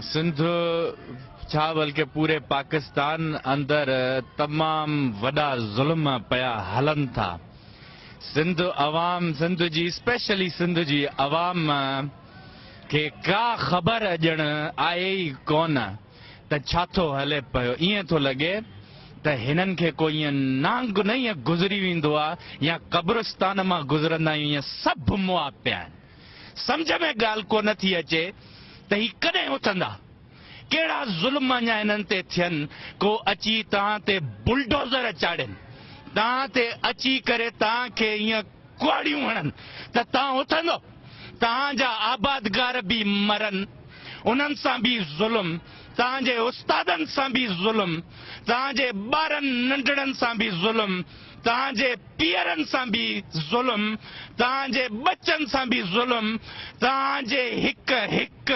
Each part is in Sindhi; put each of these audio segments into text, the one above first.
سنڌ ڇا بلڪه پوري پاڪستان اندر تمام وڏا ظلم پيا هلن ٿا سنڌ عوام سنڌ جي اسپيشلي سنڌ جي عوام کي ڪا خبر ڄڻ آهي ئي ڪون ته ڇا ٿو هلي پيو ائين ٿو لڳي ته هنن کي ڪو ائين نانگ نه ائين گذري ويندو آهي يا قبرستان مان گذرندا آهيون ائين سڀ مئا پيا آهن سمجهه ۾ ڳالهه ڪو نه ٿي اچي ته هي ڪڏهن اٿندا؟ ڪهڙا ظلم اڃا هنن تي ٿين ڪو اچي توهان تي بلڊوزر چاڙهين، توهان تي اچي ڪري توهان کي ايئن ڪهاڙيون هڻن ته توهان اٿندؤ؟ توهان جا آبادگار به مرن، انهن سان به ظلم، توهان جي استادن سان به ظلم، توهان جي ٻارن ننڍڙن سان به ظلم، توهان جي پيئرن سان به ظلم، توهان جي ٻچن سان به ظلم، توهان جي هڪ هڪ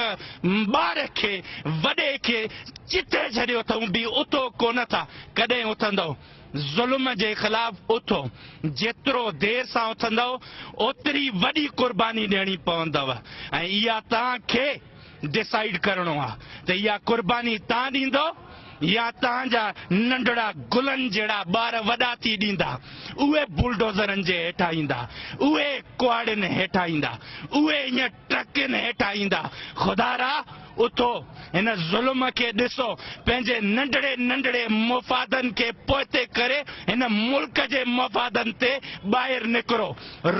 ٻار کي وڏي کي جتي ڇڏيو اٿئون به اٿو ڪونه ٿا، ڪڏهن اٿندئو؟ ظلم جي خلاف اٿو، جيترو دير سان اٿندئو اوتري وڏي قرباني ڏيڻي پوندئو ۽ اها توهان کي. ڊسائيڊ ڪرڻو آ ته اها قرباني تان ڏيندؤ يا تان جا ننڍڙا گلن جهڙا ٻار وڏا ٿي ڏيندا اهي بلڊوزرن جي هيٺان ايندا اهي ڪهاڙين هيٺان ايندا اهي ائين ٽرڪين هيٺان ايندا خدارا اٿو هن ظلم کي ڏسو پنهنجي ننڍڙي ننڍڙي مفادن کي پوئتي ڪري هن ملڪ جي مفادن تي ٻاهر نڪرو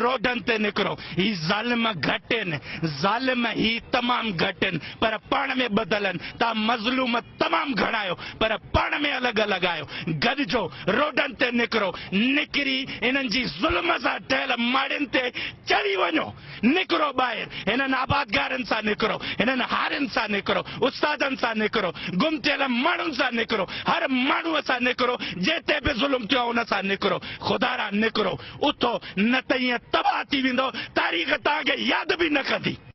روڊن تي نڪرو هي ظالم گهٽ ان ظالم هي تمام گهٽ ان پر پاڻ ۾ ٻڌل ان تان مظلوم تمام گهڻا آهيو پر پاڻ ۾ الڳ الڳ آهيو گڏجو روڊن تي نڪرو نڪري انهن جي ظلم سان ٺهيل ماڙين تي چڙهي وڃو نڪرو ٻاهر هنن آبادگارن سان نڪرو هنن هارين سان نڪرو استادن سان نڪرو گم ٿيل ماڻهن سان نڪرو هر ماڻهو سان نڪرو جنهن تي به ظلم ٿيو آهي ان سان نڪرو خدارا نڪرو اٿو نه ته ائين تباهه ٿي ويندؤ، تاريخ توهان کي ياد به نه ڪندي.